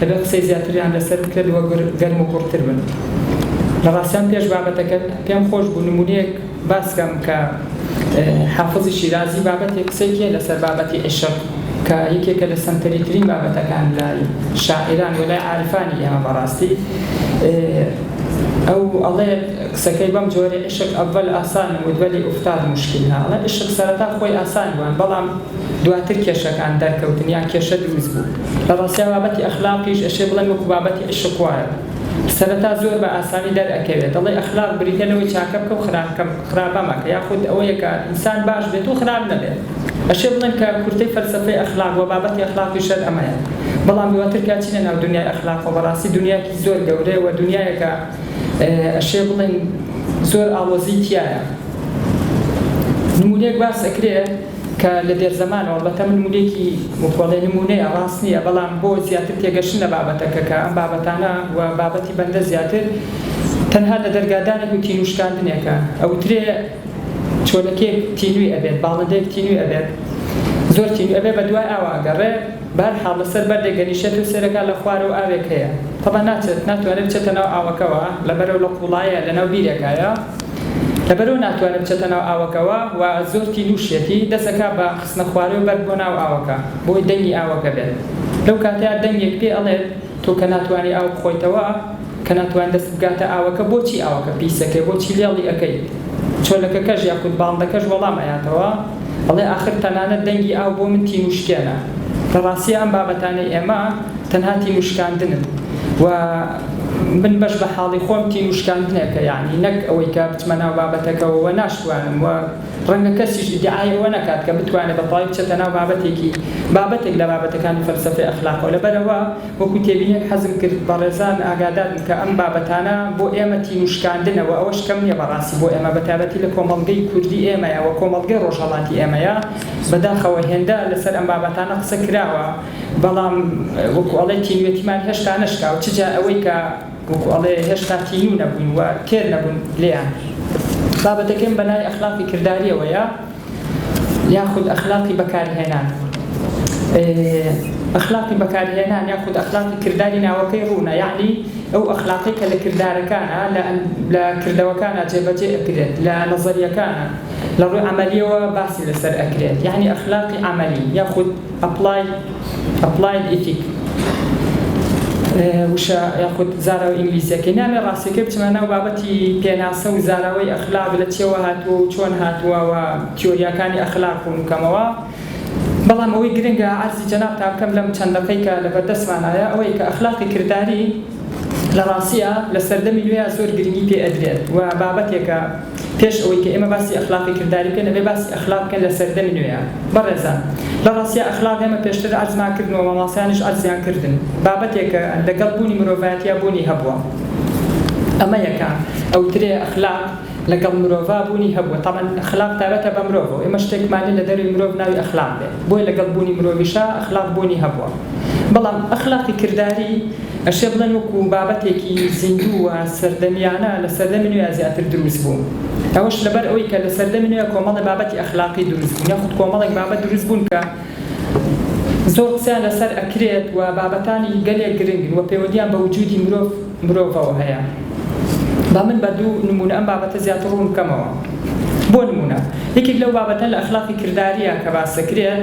دەبێت قسەی زیاتریان لەسەر بکرێت و گەرم و گوڕتر بن لە ڕاستیان پێش بابەتەکەت پێم خۆش بوو نمونەیەک باس کەم کە حافظی شیرازی بابەتی قسەیەکی هەیە لەسەر بابەتی عیشق کە یەکێکە لە سەنتەری ترین بابەتەکان لای شاعیران و لای عارفانی ئێمە بەڕاستی ئەو ئەڵێ قسەکەی بەم جۆرە عشق ئەول ئاسان و دولی ئوفتاد مشکل هاڵە عشق سەرەتا خۆی ئاسان بووان بەڵام دواتر کێشەکان دەرکەوتن یان کێشە دروست بوو لە ڕاستیا بابەتی ئەخلاقیش ئەشێ بڵێم وەکو بابەتی عیشق وایە سەرەتا زۆر بە ئاسانی دەر ئەکەوێ دەڵێی ئەخلاق بریتیە لەوەی چاکە بکە و خراپە مەکە یاخود ئەوەیە کە ئینسان باش بێت و خراپ نەبێت ئەشێ بڵێم کە کورتەی فەلسەفەی ئەخلاق وە بابەتی ئەخلاقی شەر ئەمەیە بەڵام دواتر کە ئەچینە ناو دونیای ئەخلاقەوە بەڕاستی دونیایەکی زۆر گەورەیە وە دونیایەکە ئەشێ بڵێم زۆر ئاڵۆزی تیایە نمونەیەک باس ئەکرێ. کە لە دێرزەمانەوە بە تەمن ملێکی بکۆڵێ نموونەیە ڕاست نییە، بەڵام بۆ زیاتر تێگەشتن لە بابەتەکە کە ئەم بابەتانە و بابەتی بەندە زیاتر تەنها لە دەرگادانێک و تینوو شکاندنێکە ئەوترێ چۆلەکێک تینووی ئەبێت باڵندەیەک تینووی ئەبێت زۆر تینووی ئەبێت بە دوای ئاو ئەگەڕێ بەهەرحاڵ لە سەر بەردێک دەنیشێت و سەیرەکا لە خوارەوە ئاوێک هەیە تەبا ناچێت ناتوانێت بچێتە ناو ئاوەکەوە لەبەرئەو لە قوڵایە لە ناو بیرێکایە لەبەرئەو ناتوانێ بچێتە ناو ئاوەکەوە و زۆر تینووشیەتی، دەست ئەکا بە خستنە خوارێ و بەرد بۆ ناو ئاوەکە، بۆی دەنگی ئاوەکە بێت. لەو کاتەیا دەنگێک پێ ئەڵێت، تۆ کە ناتوانی ئاو بخۆیتەوە، کە ناتوانی دەستت بگاتە ئاوەکە، بۆچی ئاوەکە پیس ئەکەی، بۆچی لێڵی ئەکەیت؟ چۆلەکەکەش یاخود باڵندەکەش وەڵام ئەیاتەوە، ئەڵێ، ئاخر تەنانەت دەنگی ئاو بۆ من تینووشکێنە. لە ڕاستییا ئەم بابەتانەی ئێمە تەنها تینووشکاندنن و، من بەش بە حاڵی خۆم تین و شکاندنێکە یەعنی نەک ئەوەی کە بچمە ناو بابەتەکەوە وە ناشتوانم وە ڕەنگە کەسیش ئیدعای ئەوە نەکات کە بتوانێت بە تەواوی بچێتە ناو بابەتێکی بابەتێک لە بابەتەکانی فەلسەفەی ئەخلاقەوە لەبەر ئەوە وەکو تێبینیەک حەزم کرد بەڕێزان ئاگادار بن کە ئەم بابەتانە بۆ ئێمە تین و شکاندنە وە ئەوەش کەم نیە بەڕاستی بۆ ئێمە بە تایبەتی لە کۆمەڵگەی کوردی ئێمەیە وە کۆمەڵگەی ڕۆژهەڵاتی ئێمەیە بەداخەوە هێندە لەسەر ئەم بابەتانە قسە کراوە بەڵام وەکو ئەڵێ تینوێتیمان هێشتا نەشکا و چ جا ئەوەی کە وەکو ئەڵێ هێشتا تینوو نەبووین و تێر نەبوون لێیان. بابەتەکەم بە لای ئەخلاقی کردارییەوەیە یاخود ئەخلاقی بەکارهێنان. ئەخلاقی بەکارهێنان یاخود ئەخلاقی کرداری ناوەکەی ڕوونە یەعنی ئەو ئەخلاقەی کە لە کردارەکانا، لە کردەوەکانا جێبەجێ ئەکرێت، لە نەزەرییەکانا، لە ڕووی عەمەلییەوە باسی لەسەر ئەکرێت یەعنی ئەخلاقی عەمەلی یاخود ئەپڵاید Applied Ethic وشە یاخود زاراوە ئینگلیزیەکەی نامێ ڕاستیەکەی بچمە ناو بابەتی پێناسە و زاراوەی ئەخلاق لە چیەوە هاتووە و چۆن هاتووە و تیۆریاکانی ئەخلاق ڕوون کەمەوە بەڵام ئەوەی گرنگە عەرزی جەنابتان بکەم لەم چەند دەقەی کە لە بەردەستمانایە ئەوەی کە ئەخلاقی کرداری لە ڕاستیە لە سەردەمی نوێیا زۆر گرنگی پێ ئەدرێت و بابەتێکە پێش ئەوەی کە ئێمە باسی ئەخلاقی کرداری بکەین ئەبێ باسی ئەخلاق بکەین لە سەردەمی نوێیا بەڕێزان لە ڕاستیا ئەخلاق ئێمە پێشتر عەرزمان کردنەوە ماماسایانیش عەرزیان کردن بابەتێکە لە گەڵ بوونی مرۆڤایەتیا بوونی هەبووە ئەمە یەکە ئەوترێ ئەخلاق لە گەڵ مرۆڤا بوونی هەبووە تەبعەن ئەخلاق تایبەتە بە مرۆڤەوە ئێمە شتێکمانیە لە دەروی مرۆڤ ناوی ئەخلاق بێ بۆیە لە گەڵ بوونی مرۆڤیشا ئەخلاق بوونی هەبووە بەڵام ئەخلاقی کرداری ئەشێ بڵێن وەکو بابەتێکی زیندوو و سەردەمیانە لە سەردەمی نوێ زیاتر دروست بوو. ئەوەش لەبەر ئەوەی کە لە سەردەمی نوێ کۆمەڵێ بابەتی ئەخلاقی دروست بوون یاخود کۆمەڵێک بابەت دروست بوون کە زۆر قسەیان لەسەر ئەکرێت و بابەتانی گەلێک گرنگن و پەیوەندییان بە وجودی مرۆڤ مرۆڤەوە هەیە. با من بە دوو نموونە ئەم بابەتە زیاتر ڕوون بکەمەوە. بۆ نموونە یەکێک لەو بابەتە لە ئەخلاقی کردارییە کە باس دەکرێت،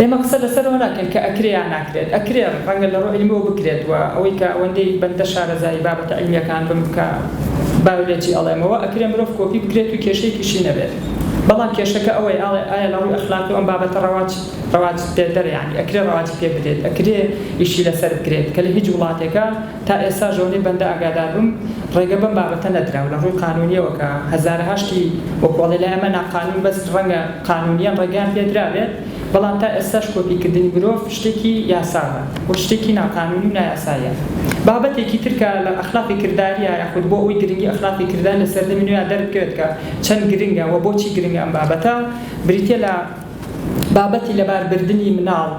ئێمە قسە لەسەرەوە ناکەین کە ئەکرێ یان ناکرێت، ئەکرێ ڕەنگە لەڕوی عیلمیەوە بکرێت و ئەوەی کە ئەوەندەی بەندە شارەزایی بابەتە عیلمیەکان بم کە بایۆلۆجی ئەڵێمەوە ئەکرێ مرۆڤ کۆپی بکرێت و کێشەیەکیشی نەبێت بەڵام کێشەکە ئەوەی ئایا لەڕوی ئەخلاقیەوە ئەم بابەتە ڕەواج ڕەواج پێدەرە یانی ئەکرێ ڕەواجی پێبدرێت ئەکرێ ئیشی لەسەر بکرێت کە لەهیچ وڵاتێکا تا ئێستاش لەوەی بەندە ئاگادار بم ڕێگە بەم بابەتە نەدرا و لە ڕووی قانوونییەوە کە هەزارەها شتی وەکوو ئەڵێ لای ئەمە ناقانوون بەس ڕەنگە قانوونییەن ڕێگەیان پێ درابێت بەڵام تا ئێستاش کۆپی کردنی مرۆڤ شتێکی یاساوە و شتێکی ناقانوونی و نایاساییە بابەتێکی تر کە لە ئەخلاقی کردارییە یاخود بۆ ئەوەی گرنگی ئەخلاقی کرداری لە سەردەمی نوێیا دەربکەوێت کە چەند گرنگە و بۆچی گرنگە ئەم بابەتە بریتییە لە بابەتی لەباربردنی مناڵ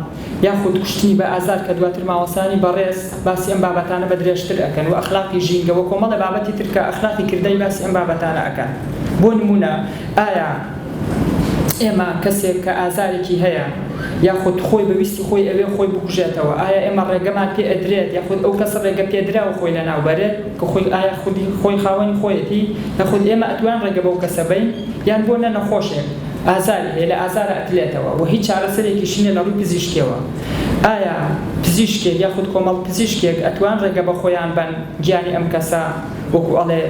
یاخود کوشتنی بە ئازار کە دواتر مامۆستایانی بەڕێز باسی ئەم بابەتانە بە درێژتر ئەکەن وە ئەخلاقی ژینگە وە کۆمەڵێ بابەتی تر کە ئەخلاقی کردای باسی ئەم بابەتانە ئەکەن بۆ نمونە ئایا ئێمە کەسێک کە ئازارێکی هەیە یاخود خۆی بە ویستی خۆی ئەوێ خۆی بکوژێتەوە ئایا ئێمە ڕێگەمان پێ ئەدرێت یاخود ئەو کەس ڕێگە پێدراوە خۆی لە ناو بەرێت کە خۆی ئایا خودی خۆی خاوەنی خۆیەتی یاخود ئێمە ئەتوان ڕێگە بەو کەسە بەین یان بۆ نە نەخۆشێک ئازاری هەیە لە ئازارە ئەتلێتەوە وە هیچ چارەسەرێکیشی نیە لەڕووی پزیشکیەوە ئایا پزیشکێک یاخود کۆمەڵ پزیشکێک ئەتوان ڕێگە بەخۆیان بەن گیانی ئەم کەسە وەکو ئەڵێ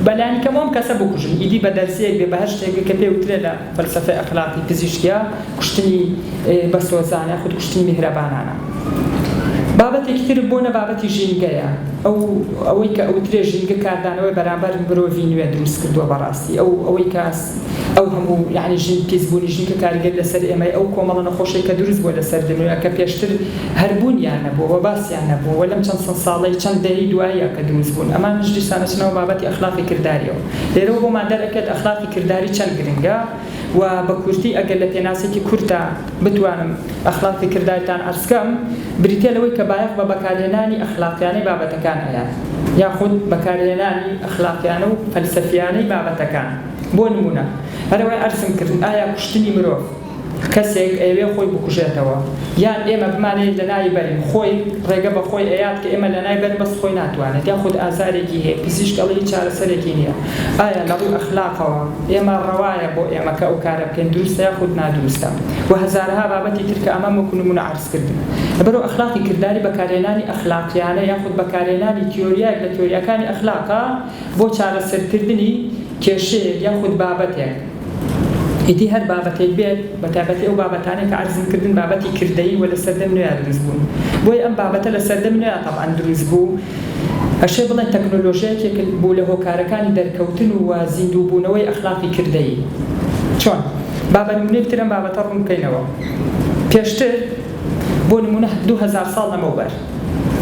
بەلانی کەم ئەم کەسە بکوژن ئیدی بەدەرزیەک بێ بەهەرشتێک بێ کە پێ وترێ لە فەلسەفەی ئەخلاقی پزیشکیا کوشتنی بەسۆزانە یاخود کوشتنی میهرەبانانە بابەتێکی تر بۆنە بابەتی ژینگەیە ئەو ئەوەی کە ئەوترێ ژینگە کاردانەوەی بەرامبەر مرۆڤی نوێ دروست کردوە بەڕاستی ئەو ئەوەی کە ئەو هەموو یەعنی ژن پیس بوونی ژنکە کاریگەر لەسەر ئێمەی ئەو کۆمەڵە نەخۆشەی کە دروست بووە لەسەر دنویە کە پێشتر هەر بوونیان نەبووە وە باسیان نەبووە وە لەم چەند سەد ساڵەی چەند دەیەی دواییە کە دروست بوون ئەمانیش دیسان ئەچنە ناو بابەتی ئەخلاقی کرداریەوە لێرەوە بۆمان دەر ئەکەێت ئەخلاقی کرداری چەند گرنگە وە بە کورتی ئەگەر لە پێناسێکی کورتا بتوانم ئەخلاقی کردارتان عەرز کەم بریتیە لەوەی کە بایەخ بە بەکارهێنانی ئەخلاقیانەی بابەتەکان ئەیات یاخود بەکارهێنانی ئەخلاقیانە و فەلسەفیانەی بابەتەکان. بۆ نموونە هەرەوەی عەرزم کرد ئایا کوشتنی مرۆڤ کەسێک ئەیەوێ خۆی بکوژێتەوە یان ئێمە بمانەوێت لەناوی بەرین خۆی ڕێگە بەخۆی ئەیات کە ئێمە لەنای بەرین بەس خۆی ناتوانێت یاخود ئازارێکی هەیە پزیشک ئەڵێ هیچ چارەسەرێکی نییە ئایا لەڕووی ئەخلاقەوە ئێمە ڕەوایە بۆ ئێمە کە ئەو کارە بکەین دروستە یاخود نادروستە وە هەزارەها بابەتی تر کە ئەمەم وەکو نموونە عەرز کردن لەبەرو ئەخلاقی کرداری بەکارهێنانی ئەخلاقیانە یاخود بەکارهێنانی تیۆریایەک لە تیۆریاکانی ئەخلاقە بۆ چارەسەرکردنی کێشەیەک یاخود بابەتێک، ئیدی هەر بابەتێک بێت، بە تایبەتی ئەو بابەتانەی کە عەرزم کردن بابەتی کردەیی و لە سەردەمی نوێیا دروست بوون، بۆیە ئەم بابەتە لە سەردەمی نوێیا تەبعەن دروست بوو، ئەشێ بڵێن تەکنۆلۆژیا یەکێک بوو لە هۆکارەکانی دەرکەوتن و زیندووبوونەوەی ئەخلاقی کردەیی. چۆن؟ با بە نموونەیەک تر ئەم بابەتە ڕوون بکەینەوە. پێشتر، بۆ نموونە دوو هەزار ساڵ لەمەوبەر،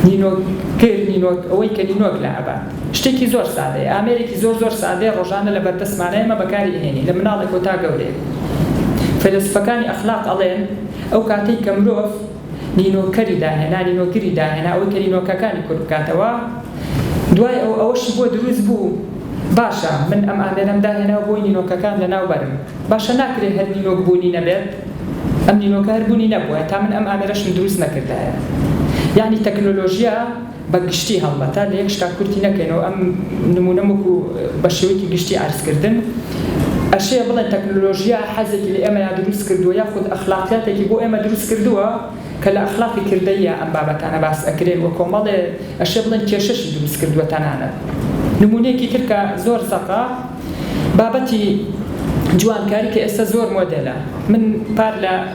نینۆک گر، نینۆک، ئەوەی کە نینۆک لابە، شتێکی زۆر سادەیە ئامێرێکی زۆر زۆر سادەیە ڕۆژانە لەبەردەستمانە ئێمە بەکاری ئەهێنین لە مناڵێکەوە تا گەورەیەک فەیلەسوفەکانی ئەخلاق ئەڵێن ئەو کاتەی کە مرۆڤ نینۆکەری داهێنا نینۆکری داهێنا ئەوەی کە نینۆکەکانی کورت بکاتەوە دوای ئەو ئەوەشی بۆ دروست بوو باشە من ئەم ئامێرەم داهێنا و بۆی نینۆکەکان لەناو بەرم باشە ناکرێ هەر نینۆک بوونی نەبێت ئەم نینۆکە هەر بوونی نەبوایە تا من ئەم ئامێرەشم دروست نەکردایە یانی تەکنۆلۆژیا بە گشتی هەڵبەتە لە یەک شتا کورتی نەکەینەوە ئەم نموونەم وەکو بە شێوەیەکی گشتی عەرز کردن ئەشێ بڵێن تەکنۆلۆژیا حەزێکی لە ئێمەیا دروست کردووە یاخود ئەخلاقیاتێکی بۆ ئێمە دروست کردووە کە لە ئەخلاقی کردەییا ئەم بابەتانە باس ئەکرێن وە کۆمەڵێ ئەشێ بڵێن کێشەشی دروست کردووە تەنانەت نموونەیەکی تر کە زۆر زەقە بابەتی جوانکاری کە ئێستا زۆر مۆدێلە من پار لە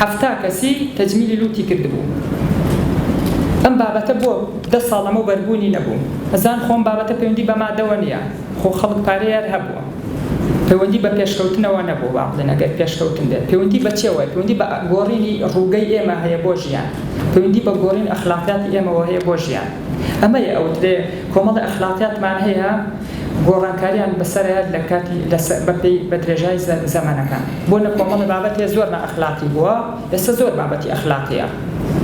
حەفتا کەسی تەجمیلی لوتی کردبوو ئەم بابەتە بۆ دە ساڵ لەمەو بەر بوونی نەبوو ئەزان خۆ ئەم بابەتە پەیوەندی بە مادەوە نیە خۆ خەڵک پارەی هەر هەبوو پەیوەندی بە پێشکەوتنەوە نەبوو با بڵێن ئەگەر پێشکەوتن بێت پەیوەندی بە چێوە پەیوەندی بە گۆڕینی ڕووگەی ئێمە هەیە بۆ ژیان پەیوەندی بە گۆڕین ئەخلاقیاتی ئێمەوە هەیە بۆ ژیان. ئەمەیە ئەوترێ کۆمەڵێ ئەخلاقیاتمان هەیە گۆڕانکاریان بەسەرایەت لە کاتی بەپێی بە درێژای زەمەنەکان بۆ نە کۆمەڵێ بابەتێ زۆر نا ئەخلاقی بووە ئێستا زۆر بابەتی ئەخلاقیە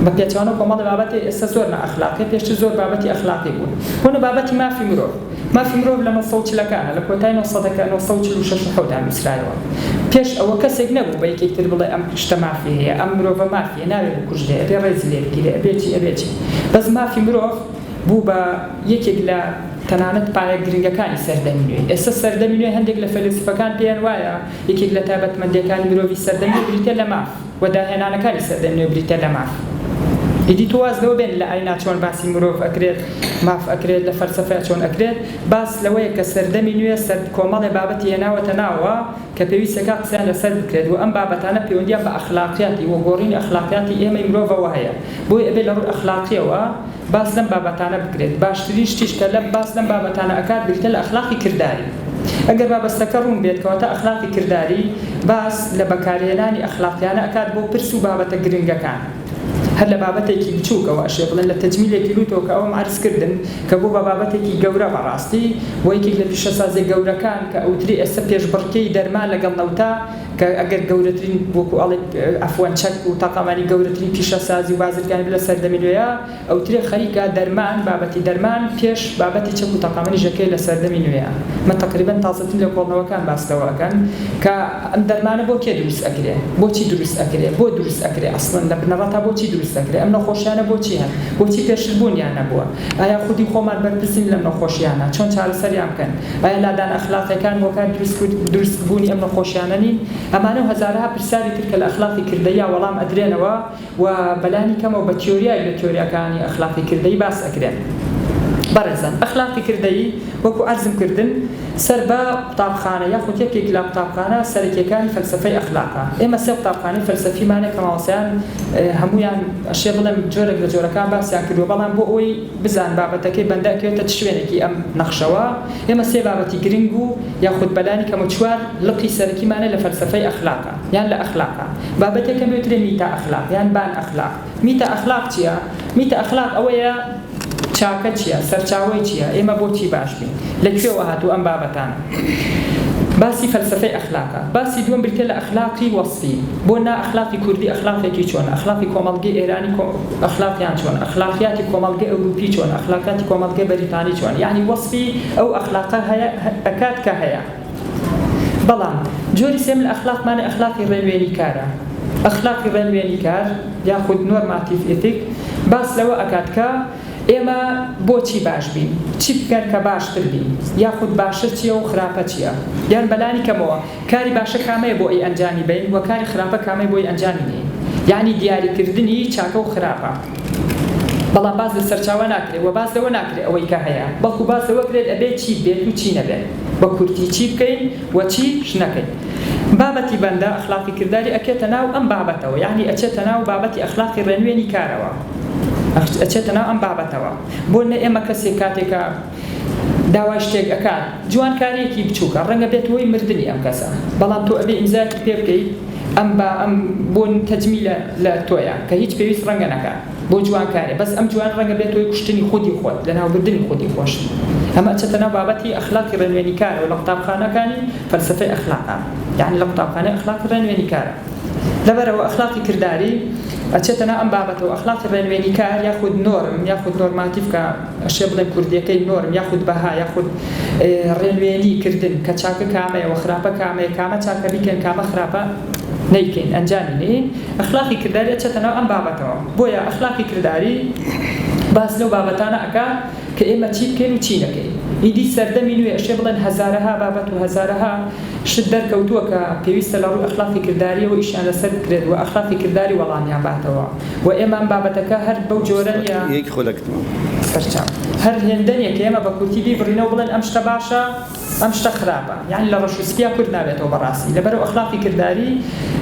بە پێچەوانەوە کۆمەڵێ بابەتێ ئێستا زۆر نا ئەخلاقیە پێشتر زۆر بابەتی ئەخلاقی بوون بۆ نە بابەتی مافی مرۆڤ مافی مرۆڤ لە نۆ سەد و چلەکانە لە کۆتای نۆ سەدەکە نۆ سەد و چل و شەش و حەوت دا نووسرایەوە پێش ئەوە کەسێک نەبوو بە یەکێک تر بڵێ ئەم شتە مافی هەیە ئەم مرۆڤە مافی ئێ ناوێ بکوژرێ ئەبێ ڕێزی لێ بگیرێ ئەبێ چی ئەبێ چی بەس مافی مرۆڤ بوو بە یەکێک لە تەنانەت پایە گرنگەکانی سەردەمی نوێ ئێستا سەردەمی نوێ هەندێک لە فەیلەسوفەکان پێیان وایە یەکێک لە تایبەتمەندیەکانی مرۆڤی سەردەم نوێ بریتیە لە ماف وە داهێنانەکانی سەردەم نوێ بریتیە لە ماف ئیدی تۆ واز لەوە بێنە لە ئاینا چۆن باسی مرۆڤ ئەکرێت ماف ئەکرێت لە فەلسەفەیا چۆن ئەکرێت باس لەوەیە کە سەردەمی نوێ سەر کۆمەڵێ بابەتی هێناوەتە ناوەوە کە پێویستەکە قسەیان لەسەر بکرێت و ئەم بابەتانە پێوەندییان بە ئەخلاقیاتی و گۆڕینی ئەخلاقیاتی ئێمەی مرۆڤەوە هەیە، بۆیە ئەبێت لە ڕووی ئەخلاقییەوە باس لەم بابەتانە بکرێت، باشترین شتیش کە لە باس لەم بابەتانە ئەکات بریتیە لە ئەخلاقی کرداری، ئەگەر بابەستەکە ڕوون بێت کەواتە ئەخلاقی کرداری باس لە بەکارهێنانی ئەخلاقیانە ئەکات بۆ پرس و بابەتە گرنگەکان. هەر لە بابەتێکی بچووکەوە ئەشێ بڵێن لە تەجمیلێکی لووتەوە کە ئەوەم عەرز کردن کە بوو بە بابەتێکی گەورە بەڕاستی و یەکێک لە پیشەسازیە گەورەکان کە ئەوترێ ئێستا پێشبڕکێی دەرمان لەگەڵ نەوتا کە ئەگەر گەورەترین وەکوو ئەڵێ ئەفوەن چەک و تاقانمانی گەورەترین پیشەسازی و بازرگانی بوو لە سەردەمی نوێیا. ئەوترێ خەریکە دەرمان، بابەتی دەرمان پێش بابەتی چەک و تەقەمەنی ژەکەیە لە سەردەمی نوێ ئەمە تەقریبەن تازەترین لێکۆڵنەوەکان باس لەوە ئەکەن کە ئەم دەرمانە بۆ کێ دروست ئەکرێ بۆچی دروست ئەکرێ بۆ دروست ئەکرێ ئەسڵەن لە بنەڕەتا بۆچی دروست ئەکرێ ئەم نەخۆشیانە بۆچی هەن بۆچی پێشتر بوون یان نەبووە ئایا خودی خۆمان بەرپرسین لەم نەخۆشیانە چۆن چارەسەریان بکەن ئایا لادان ئەخلاقیەکان هۆکاری دروست بوونی ئەم نەخۆشیانە نین ئەمانە و هەزارەها پرسیاری تر کە لە ئەخلاقی کردەییا وەڵام ئەدرێنەوە و بەلانی کەمەوە بە تیۆریایەک لە تیۆریاکانی ئەخلاقی کردەیی باس ئەکرێن بەڕێزان ئەخلاقی کردەیی وەکو عەرزم کردن سەر بە قوتابخانە یاخود یەکێک لە قوتابخانە سەرەکیەکانی فەلسەفەی ئەخلاقە ئێمە سێ قوتابخانەی فەلسەفیمانە کە مامۆستایان هەموویان ئەشێ بڵێم جۆرێک لە جۆرەکان باسیان کردوە بەڵام بۆ ئەوەی بزان بابەتەکەی بەندە ئەکەوێتە چ شوێنێکی ئەم نەخشەوە ئێمە سێ بابەتی گرنگ و یاخود بەلانی کەمە چوار لقی سەرەکیمانە لە فەلسەفەی ئەخلاق یان لە ئەخلاقە. بابەتێکە بێوترێ میتا ئەخلاق یان بان ئەخلاق. میتا ئەخلاق چیە؟ میتا ئەخلاق ئەوەیە چاکە چیە؟ سەرچاوەی چیە؟ ئێمە بۆچی باش بین؟ لە کوێوە هاتوو ئەم بابەتانە؟ باسی فەلسەفەی ئەخلاقە. باسی دووەم بریتیە لە ئەخلاقی وەسفی. بۆ نا ئەخلاقی کوردی ئەخلاقێکی چۆنە؟ ئەخلاقی کۆمەڵگەی ئێرانی کۆ ئەخلاقیان چۆنە؟ ئەخلاقیاتی کۆمەڵگەی ئەوروپی چۆنە؟ ئەخلاقیاتی کۆمەڵگەی بەریتانی چۆنە؟ یەعنی وەسفی ئەو ئەخلاقە هەیە ئەکات کە هەیە. بەڵام جۆری سێم لە ئەخلاقمانە ئەخلاقی ڕێوێنی کارە. ئەخلاقی ڕێنوێنی کار یاخود نۆرماتیڤ ئیتیک باس لەوە ئەکات کە ئێمە بۆچی باش بین؟ چی بکەن کە باشتر بین؟ یاخود باشە چیە و خراپە چیە؟ یان بە لانی کەمەوە کاری باشە کامەیە بۆ ئی ئەنجامی بەین و کاری خراپە کامەی بۆی ئەنجامی نەین؟ یانی دیاری کردنی چاکە و خراپە. بەڵام باس لە سەرچاوە ناکرێت و باس لەوە ناکرێت ئەوەی کە هەیە بەڵکو باس لەوە کرێت ئەبێت چی بێت و چی نەبێت بە کورتی چی بکەین و چیش نەکەین بابەتی بەندە ئەخلاقی کرداری ئەکێتە ناو ئەم بابەتەوە یانی ئەچێتە ناو بابەتی ئەخلاقی ڕێنوێنی کارەوە ئەچێتە ناو ئەم بابەتەوە بۆ نە ئێمە کەسێک کاتێکە داوای شتێک ئەکات جوانکاریەکی بچوکە ڕەنگە بێت هۆی مردنی ئەم کەسە بەڵام تۆ ئەبێ ئیمزایەکی پێ بکەیت ئەم با ئەم بۆ تەجمیلە لە تۆیە کە هیچ پێویست ڕەنگە نەکات بۆ جوانکاریە بەس ئەم جوان ڕەنگە بێت هۆی کوشتنی خودی خۆت لەناو بردنی خودی خۆشت ئەمە ئەچێتە ناو بابەتی ئەخلاقی ڕێنوێنی کارەوە لە قوتابخانەکانی فەلسەفەی ئەخلاقا یانی لە قوتابخانەی ئەخلاقی ڕێنوێنی کارە لەبەرئەوە ئەخلاقی کرداری ئەچێتە ناو ئەم بابەتەوە ئەخلاقی ڕێنوێنی کار یاخود نۆرم یاخود نۆرماتیڤ کە ئەشێ بڵێ کوردیەکەی نۆرم یاخود بەها یاخود ڕێنوێنی کردن کە چاکە کامەیە وە خراپە کامەیە کامە چاکە بیکەین کامە خراپە نەیکەین ئەنجامی نەیەین ئەخلاقی کرداری ئەچێتە ناو ئەم بابەتەوە بۆیە ئەخلاقی کرداری باس لەو بابەتانە ئەکا کە ئێمە چی بکەین و چی نەکەین ئیدی سەردەمی نوێ ئەشێ بڵێن هەزارەها بابەت و هەزارەها شت دەرکەوتووە کە پێویستە لەڕووی ئەخلاقی کرداریەوە ئیشیان لەسەر بکرێت وە ئەخلاقی کرداری وەڵامیان باتەوە. و ئێمەم بابەتەکە هەر بەو جۆرە نیە بەرچاو هەر هێندە نیە کە ئێمە بە کورتی بیبڕینەوە بڵێن ئەم شتە باشە ئەم شتە خراپە یانی لە ڕەش و سپیا کورت نابێتەوە بەڕاستی لەبەرو ئەخلاقی کرداری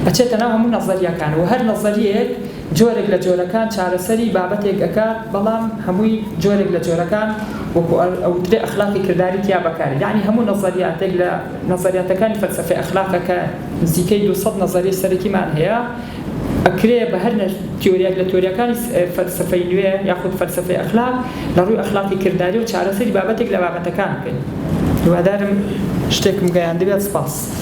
ئەچێتە ناو هەموو نەزەریەکان و هەر نەزەریەیەک جۆرێک لە جۆرەکان چارەسەری بابەتێک ئەکات بەڵام هەمووی جۆرێک لە جۆرەکان وەکو ئەوترێ ئەخلاقی کرداری تیا بەکارێ یانی هەموو نەزەریاتێک لە نەزەریاتەکانی فەلسەفەی ئەخلاقە کە نزیکەی دوو سەد نەزەری سەرەکیمان هەیە ئەکرێ بە هەر تیۆریەک لە تیۆریەکانی فەلسەفەی نوێ یاخود فەلسەفەی ئەخلاق لە ڕووی ئەخلاقی کرداریەوە چارەسەری بابەتێک لە بابەتەکان بکەین. هیوادارم شتێکم گەیاندبێت سپاس.